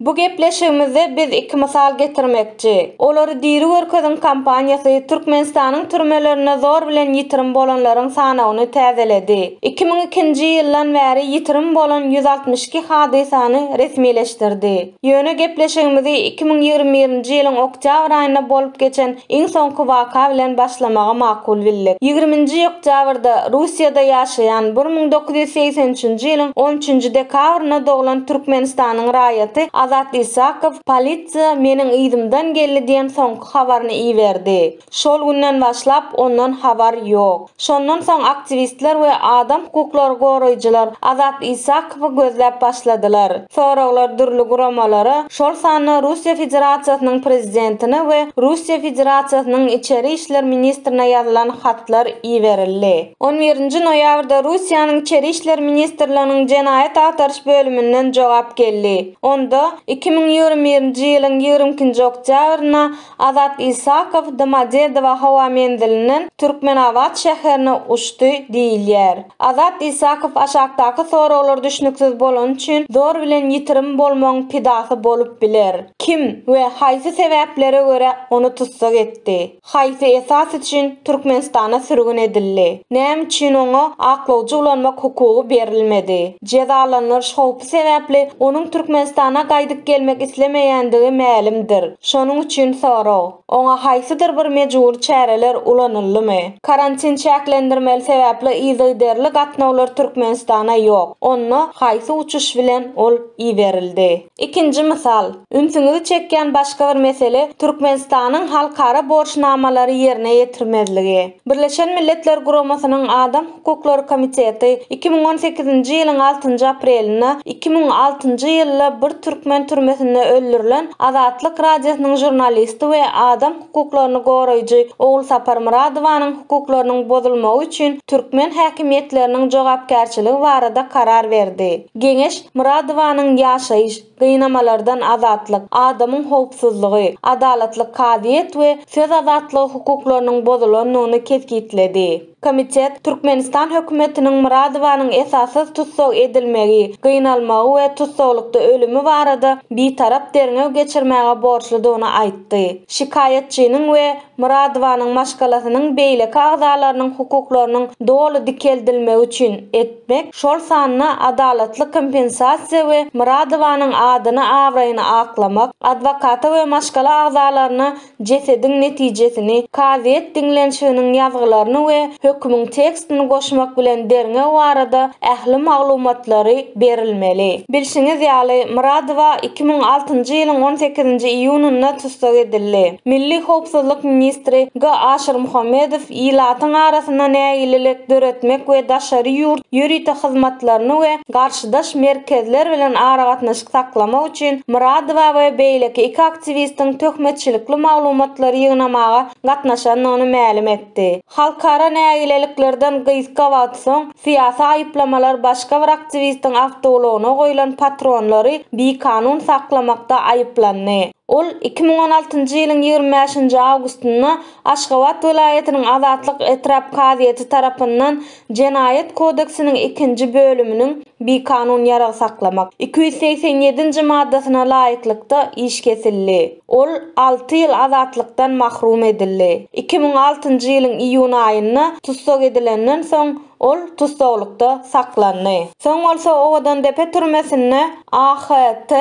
Bu gepleşigimizde biz iki mysal getirmekçi. Olary diri görkeziň kampaniýasy Türkmenistanyň türmelerinde zor bilen ýitirim bolanlaryň sanawyny täzeledi. Iki müň ikinji ýyldan bäri ýitirim bolan ýüz altmyş iki hadysany resmileşdirdi. Ýöne gepleşigimizi iki müň ýigrimi birinji ýylyň oktýabr aýynda bolup geçen Iň soňky waka bilen başlamagy makul bildik. Ýigriminji oktýabrda Russiýada ýaşaýan, bir müň dokuz ýüz segsen üçünji ýylyň on üçünji dekabrynda doglan Türkmenistanyň raýaty Azat Isakow polisiýa meniň yzymdan geldi diýen soňky habaryny iberdi. Şol günden başlap ondan habar ýok. Şondan soň aktiwistler we adam hukuklary goraýjylar Azat Isakowy gözläp başladylar. Soraglar dürli guramalara, şol sanda Russiýa Federasiýasynyň Prezidentine we Russiýa Federasiýasynyň Içeri işler ministrine ýazylan hatlar iberildi. On birinji noýabrda Russiýanyň Içeri işler ministrliginiň jenaýat agtaryş bölüminden jogap geldi. Onda, iki müň ýigrimi birinji ýylyň ýigrimi ikinji oktýabrynda Azat Isakow Domodedowo howa menzilinden Türkmenabat şäherine uçdy diýilýär. Azat Isakow aşakdaky soraglar düşnüksiz bolany üçin zor bilen ýitirim bolmagyň pidasy bolup biler, Kim we haýsy sebäplere görä ony tussag etdi? Haýsy esas üçin Türkmenistana sürgün edildi? Näme üçin oňa aklawjy ulanmak hukugy berilmedi? Jezalandyryş howpsuzlygy sebäpli onuň Türkmenistana gaýdyp gelmek islemeýändigi mälimdir. Şonuň üçin sorag, oňa haýsydyr bir mejbury çäreler ulanyldymy? Karantin çäklendirmeli sebäpli yzygiderli gatnawlar Türkmenistana ýok, onda haýsy uçuş bilen ol iberildi? Ikinji mysal, ünsüňizi çekýän başga bir mesele Türkmenistanyň halkara borçnamalary ýerine ýetirmezligi. Birleşen Milletler Guramasynyň Adam Hukuklary komiteti iki müň on sekizinji ýylyň altynjy aprelinde iki müň altynjy ýylda bir türkmen türmesinde öldürilen Azatlyk Radiosynyň žurnalisti we adam hukuklaryny goraýjy Ogulsapar Myradowanyň hukuklarynyň bozulmagy üçin türkmen häkimiýetleriniň jogapkärçiligi barada karar berdi. Geňeş Myradowanyň ýaşaýyş Gynamalardan azatlyk, adamyň howpsuzlygy, adalatly kazyýet we söz azatlygy hukuklarynyň bozulandygyny kesgitledi. Komitet Türkmenistan hökümetiniň Myradowanyň esassyz tussag edilmegi, gynalmagy we tussaglykda ölümi barada bitarap derňew geçirmäge borçludygyny aýtdy. Şikaýatçynyň we Myradowanyň maşgalasynyň beýleki agzalarynyň hukuklarynyň doly dikeldilmegi üçin et. etmek, şol sanda adalatly kompensasiýa we Myradowanyň adyny-abraýyny aklamak, adwokata we maşgala agzalaryna jesediň netijesini, kazyýet diňlenişiginiň ýazgylaryny we hökümiň tekstini goşmak bilen derňew barada ähli maglumatlary berilmeli. Bilşiňiz ýaly, Myradowa iki müň altynjy ýylyň on sekizinji iýunynda tussag edildi. Milli howpsuzlyk ministri G. Aşyrmuhammedow ilatyň arasynda nägilelik döretmek we daşary ýurt ýörite hyzmatlaryny we garşydaş merkezler bilen aragatnaşyk saklamak üçin Myradowa we beýleki iki aktiwistiň töhmetçilikli maglumatlary ýygnamaga gatnaşandygyny mälim etdi. Halkara nägileliklerden gysga wagt soň, syýasy aýyplamalar başga bir aktiwistiň awtoulagyna goýlan patronlary bikanun saklamakda aýyplandy. Ol iki müň on altynjy ýylyň ýigrimi bäşinji awgustynda Aşgabat welaýatynyň Azatlyk etrap kazyýeti tarapyndan Jenaýat kodeksiniň ikinji bölüminiň Bikanun ýarag saklamak iki ýüz segsen ýedinji maddasyna laýyklykda iş kesildi. Ol alty ýyl azatlykdan mahrum edildi. Iki müň altynjy ýylyň iýun aýynda tussag edilenden soň, Ol tussaglykda saklandy. Soň bolsa Owadandepe türmesinde AHT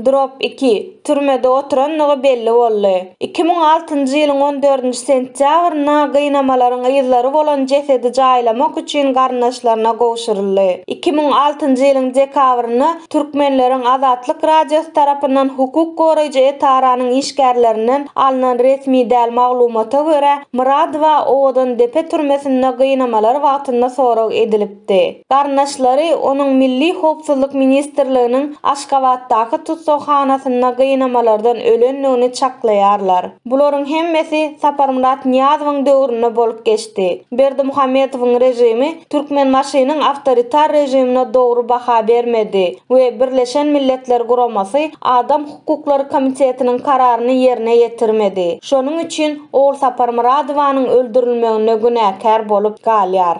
drop iki türmede oturandygy belli boldy. Iki müň altynjy ýylyň on dördünji sentýabrynda gynamalaryň yzlary bolan jesedi jaýlamak üçin garyndaşlaryna gowşuryldy. Iki müň altynjy ýylyň dekabrynda Türkmenleriň Azatlyk Radiosy tarapyndan hukuk goraýjy etaranyň işgärlerinden alnan resmi däl maglumata görä, Myradowa Owadandepe türmesinde gynamalar wagtynda sorag edilipdi. Garyndaşlary onuň Milli howpsuzlyk ministrliginiň Aşgabatdaky tussaghanasynda gynamalardan ölendigini çaklaýarlar. Bularyň hemmesi Saparmyrat Nyýazowyň döwründe bolup geçdi. Berdimuhamedowyň režimi Türkmenbaşynyň awtoritar režimine dogry baha bermedi we Birleşen Milletler Guramasy Adam hukuklary komitetiniň kararyny ýerine ýetirmedi. Şonuň üçin Ogulsapar Myradowanyň öldürilmeginde günäkär bolup galýar.